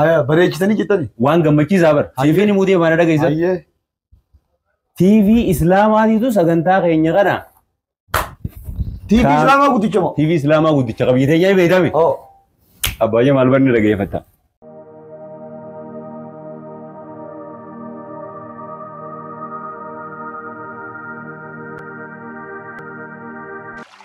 Aya bareechitanii jettani. Waan gammachiisaa bar. Hayyee. Siifiin himuu deemaa na dhageessa. Hayyee. TV Islaamaatiitu sagantaa keenya kana. TV Kaan- Islaamaa guddicha moo? TV Islaamaa guddicha qabiyyee teenyaa ni beekame. Oo. Abbaayyaa maal barni dhageeffatta.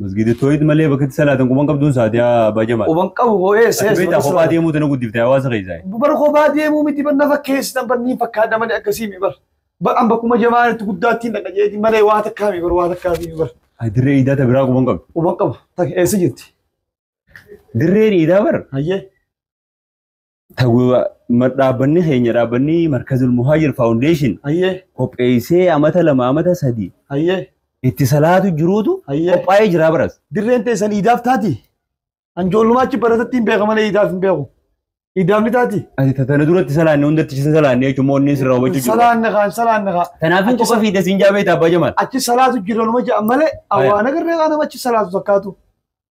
Masgiida tooyid malee bakka itti salaatan quban qabduun sa'aatii abbaa jamaa. Quban qabu hoo eessa Ati eessa beektaa kophaa bakka deemuu tana guddifte hawaasa keessaa. Bar kophaa deemuu miti bar nafa keessan bar niin fakkaadha malee akkasii mi bar. Bar an bakkuma jamaan itti guddaattiin dhaqa jeeti malee waa takkaa mi bar waa takkaa fi bar. Ati dirree iidaa ta biraa quban qabdu. Quban qabu tak eessa jirti. Dirreen iidaa bar Hayyee. Tawwa ma- dhaabbanni keenya dhaabbanni Markazul Muhaajir Faawundeeshin Hayyee. qopheessee amata lama amata sadii Hayyee. itti salaatu jiruutu Hayyee. qophaa'ee jira baras. Dirreen teessan iidaaf taati. Anjoollumaa achi baratatti hin beeka malee iidaaf hin beeku. Iidaaf ni taati. Ati tatana duratti salaanne hundatti isa salaanne jechuun moonni sirraa hubachuu jiru. Salaanne kaan salaanne kaan. Kanaaf hin qofa fiidda siin jaabee taabbaa jamaan. Achi salaatu jira numa ja'a malee Hayyee. awwaana garree kaan nama achi salaatu takkaatu.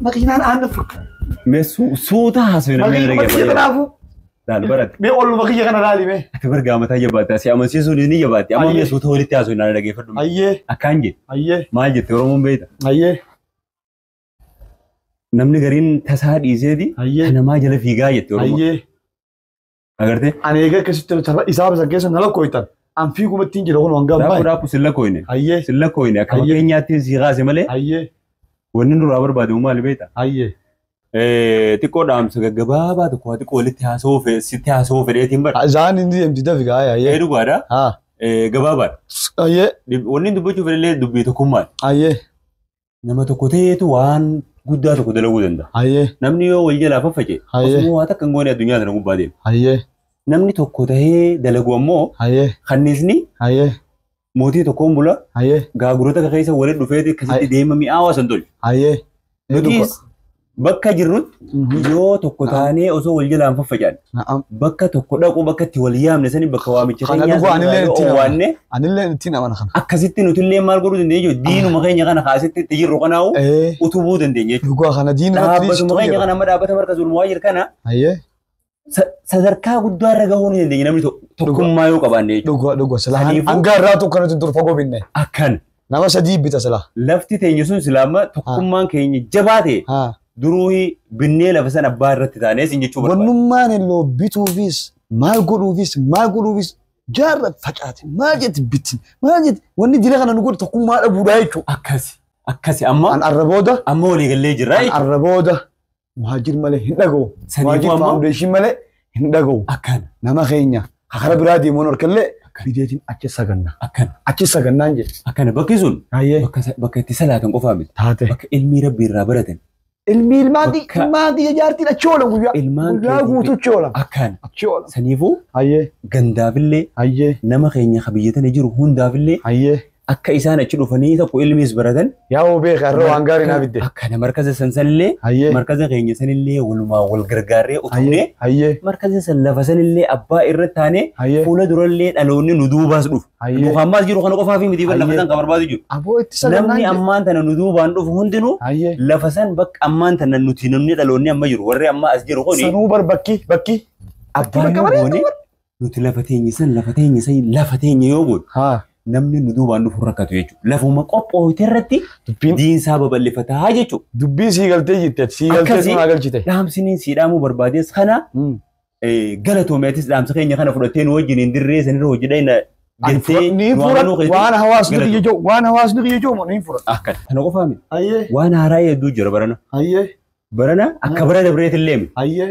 Makiinaan aannan furka. Mee su- suuta haasofne mee Makiinuma erga kiyya kanaafuu Laal baratti. mee olluma kiyya kana laali mee. Ati bar gaamataa jabaatti. Asi amansiisuun ni jabaatti. Amma Ayyee. mee suuta walitti haasofne naan dhageeffadhu. Ayyee Akkaan jee ayyee maal jette Oromoon beekta. ayyee Namni gariin tasaa dhiiseeti Ayyee. kan namaa jala fiigaa jette Oromoon. ayyee Agartee? Ani egaa akkasitti tapha isaa bisan keessa na lakkooytan. An fiiguma ittiin jira kun hanga Daakuu ammaa. daakuu silla kooyne. Hayyee. Silla kooyne akka Hayyee. fakkeenyaatti si kaase malee Hayyee. wanni nurraa barbaadamu maali beekta? Hayyee. Eh, Xiqqoo dhaamsa gaggabaabaa tokko waa xiqqoo walitti haasawuu fe- sitti haasawuu fedheetiin bara. Zaan inni deemti dafi gaa Eh, hayyee. Dhugaadha. Haa. Eh, Gabaabaadha. Hayyee. Dib- Wanni dubbachuu fedhellee dubbii tokkummaadha. Hayyee. Nama tokko ta'eetu waan guddaa tokko dalaguu danda'a. Hayyee. Namni yoo wal jalaa faffaca'e Hayyee. osoo waa takka hin goone addunyaa tana gubbaa deema. Hayyee. Namni tokko ta'ee dalagu ammoo Hayyee. kanniisni Hayyee. mootii tokkoon bula Hayyee. gaagurota keessa walitti dhufeeti akkasitti Hayyee. deema mi'aawaa san tolchu. Hayyee. Ni dhuga. Nutis Bakka jirrutti yoo tokko taanee osoo wal jalaan faffacaan Na'am. bakka tokko dhaquu bakka itti wal yaamne sani bakka waamicha Kana keenyaa dhufu sani anillee yoo ittiin amana. waanne Anillee ittiin amana kana. akkasitti nuti illee maal godhuu dandeenya jechuudha. Diinuma keenya kana kaasitti itti jirru kanaa'u Ee. utubuu dandeenya jechuudha. Dhugaa kana diin irratti Dhaabbatuma keenya kana amma dhaabbata markazuul muhaajir kana Ayyee. sa- sadarkaa guddaa irra gahuu ni dandeenya namni to- tokkummaa yoo qabaanne jechuudha. Dhugaa dhugaa silaa Saniifuu- hanga irraa tokko nuti dur fagoo binne. Akkan Nama sadii bita silaa. lafti teenya sun silaama tokkummaan keenya jabaa ta'e Haa. duruu binnee lafa san abbaa irratti taanee sin jechuu barbaada. Wannummaan illee bituufis maal godhuufis maal godhuufis jaarra facaate maal jetti bitti maal jetti wanni dila kana nu godhu tokkummaa dhabuudhaa jechuudha. Akkasi akkasi amma An arra booda amma waliigallee jirra an jechuudha. arra booda Muhaajir malee hin dhagahu. Saniifuu Muhaajir ammoo- faawundeeshin malee hin dhagahu. Akkana. Nama keenya ka kara biraa deemuun harkallee bideetiin achi saganna. Akkana. Achi sagannaan jedhe. Akkana bakki sun Hayyee. bakka sa- bakka itti salaatan qofaa miti. Taate. Bakka ilmii rabbi irraa baratan. Ilmi ilmaan kiyya Bakka- ilmaan kiyya jaartiin achi oolan guyyaa. Ilmaan Guyyaa keetii- guutuu achi oolan. Akkana. Achi oolan. Saniifuu Hayyee. gandaafillee Hayyee. nama keenya ka biyya tana jiru hundaafillee Hayyee. Akka isaan achi dhufanii tokko ilmiis baratan. Yaa hoo beeka har'a waan gaarii naa fidde. Akka na markaza san sanillee Hayyee. markaza keenya sanillee walumaa wal gargaarree Hayyee. utubnee Hayyee. markaza san lafa sanillee abbaa irra taanee Hayyee. fuula durallee dhaloonni nu duubaas dhufu. Hayyee. Nu kan maas jiru kana qofaa fi miti lafa Hayyee. san kan barbaadu jiru. Aboo itti Namni sagannaan. ammaan tana nu duubaan dhufu hundinuu Hayyee. lafa san bakka ammaan tana nuti namni dhaloonni amma jiru warri amma as jiru kuni Sanuu bar bakki bakki. abbaa bakka yoo bareedu goone Nuti lafa teenya san lafa teenya san lafa teenya yoo goone haa namni nu duubaan dhufu rakkatu jechuudha. Lafuma qophoofte irratti dubbiin diinsaa babal'ifataa jechuudha. dubbiin sii galtee jirti ati sii galtee Akkasii- sun haa galchite. Dhaamsiniin sii dhaamuu barbaadees kana Mm. eh, galatoomi atis dhaamsa keenya kana fudhattee nu wajjin hin dirree sanirra hojii dhayna Ani jettee fudhadhu, ni nu amanuu fudhadhu. keetii. Waan hawaasni Galata. kiyya jedhu waan hawaasni kiyya jedhu ni fudhadhu. Akka kana qofaa miti. Hayyee Waan haaraa hedduu jira barana. hayyee Barana akka bara dabreetillee miti. hayyee